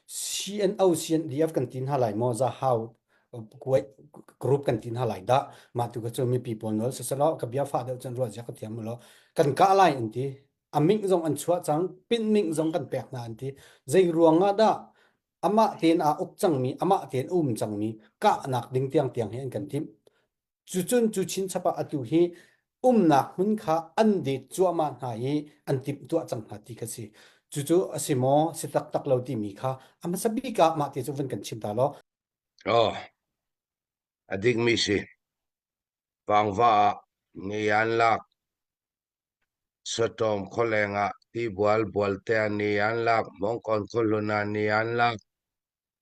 CNO CNDF kan ti hna lai maw za hau kuai group kan ti hna lai da ma tu ka chu mi pi pawl nol sasala ka bia fa deuh chan ruwa ja ka tiam lo kan ka lai an ti aming zong an chua chang pin ming zong kan pek na an ti zai ruanga da ama ten a uk chang mi ama ten um chang mi ka nak ding tiang tiang hen kan tim Cucun cu chinchap ah atu hi umnak hmun kha an det cuahmah hna i an timhtuah cang hna ti kha si. Cucu a si maw, si taktak lo timi kha a hmasa bik ah mah ti cu vun kan chim ta law. Oh, a dikmi si. Vangva ah ngi an lak. Sotawm kholeng ah ti bual bual te ni an lak. Mongkon khulluna ni an lak.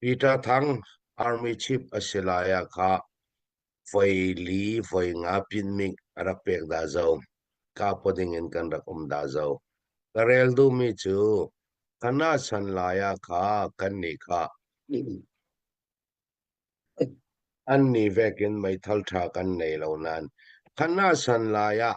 Peter Thang Army Chief a si lai ah kha voi li voi nga pinmik a rak pek dah zo. Kapo ding in kan rak um dah zo. Ka rel duhmi cu kana san lai ah kha kan nih kha an ni vek in meithal tha kan nei lo nan. Kana san lai ah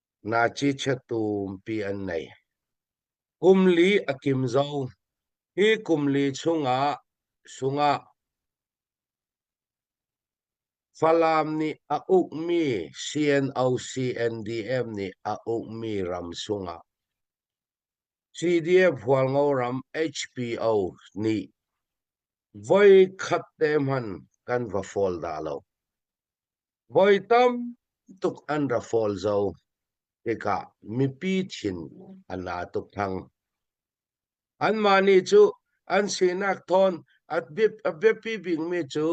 Nazi chiatumpi an nei. Kum li a kim zong hi kum li chungah sungah Falam nih a ukmi CNO-CNDM nih a ukmi ram sungah CDF hualngo ram HPO nih voi khat te hmanh kan va fawl dah lo. Voi tam tuk an ra fawl zo tikah mipi thin an la tuk thang. Anmah nih cu an sinak thawn a biapi bikmi cu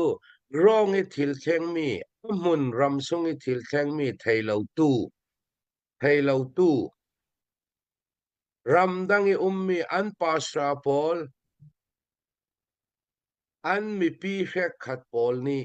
rawng i thil thlengmi hmun ram sung i thil thlengmi theilotu theilotu ramdang i ummi an pasra pawl an mipi hrekhat pawl nih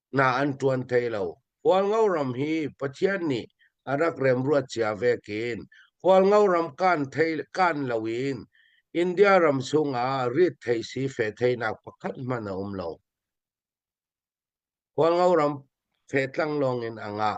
na an ṭuan thai lo. Hualngo ram hi Pathian nih a rak remruat cia ve kin. Hualngo ram kan thei kan lo in India ram chung ah rit thei si fe theinak pakhat man a um lo. Hualngo ram fe tlang lawng in a ngah.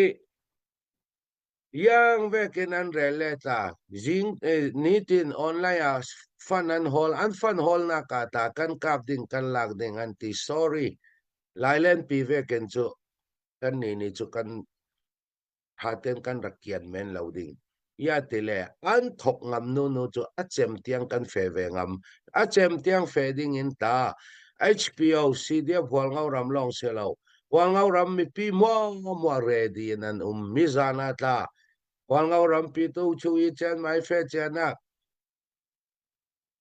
i iang vekin an rel le tla zing eh, nitin online ah fan an hol an fan holnak ah ta kan kap ding kan lak ding an ti sorry lailen pi vekin cu kan ni ni cu kan haten kan rak kian men lo ding iate le an thok ngam nu nu cu a cem tiang kan fe ve ngam a cem tiang fe ding in ta HPO CDF hual ngau ram long se lo hual ngau ram mipi mo mo ready in an um mi zana tla hual ngau ram pi tu chu i chen mai fe chen a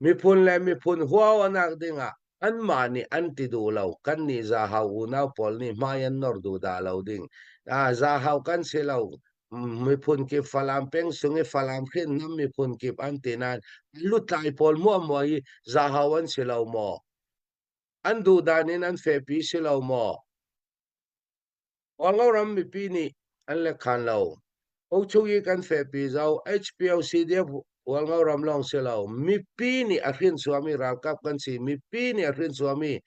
miphun le miphun huaonak dingah anmah nih an ti duh lo kan nih zahau unau pawl nih hmai an nor duh dah lo ding ah zahau kan si lo miphun kip falam peng sung i falam khin nam miphun kip an ti nain lutlai pawl mua mua i zahau an si lo maw an duh dan in an fehpi si lo maw Kawlram mipi nih an lekhan lo. Uchuyi kan fehpi zau HPLC dirh Kawlram lawng si lo. Mipi nih a hrinsuami ralkap kan si. Mipi nih a hrinsuami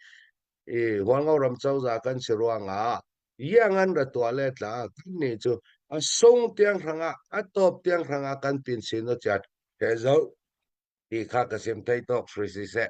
Kawlram cozah kan si ruangah iangan ra tuah le tla kannih cu a sung tiang hrangah a top tiang hrangah kan pin sin u chat he zoh ti kha ka sim thei tok hri si seh.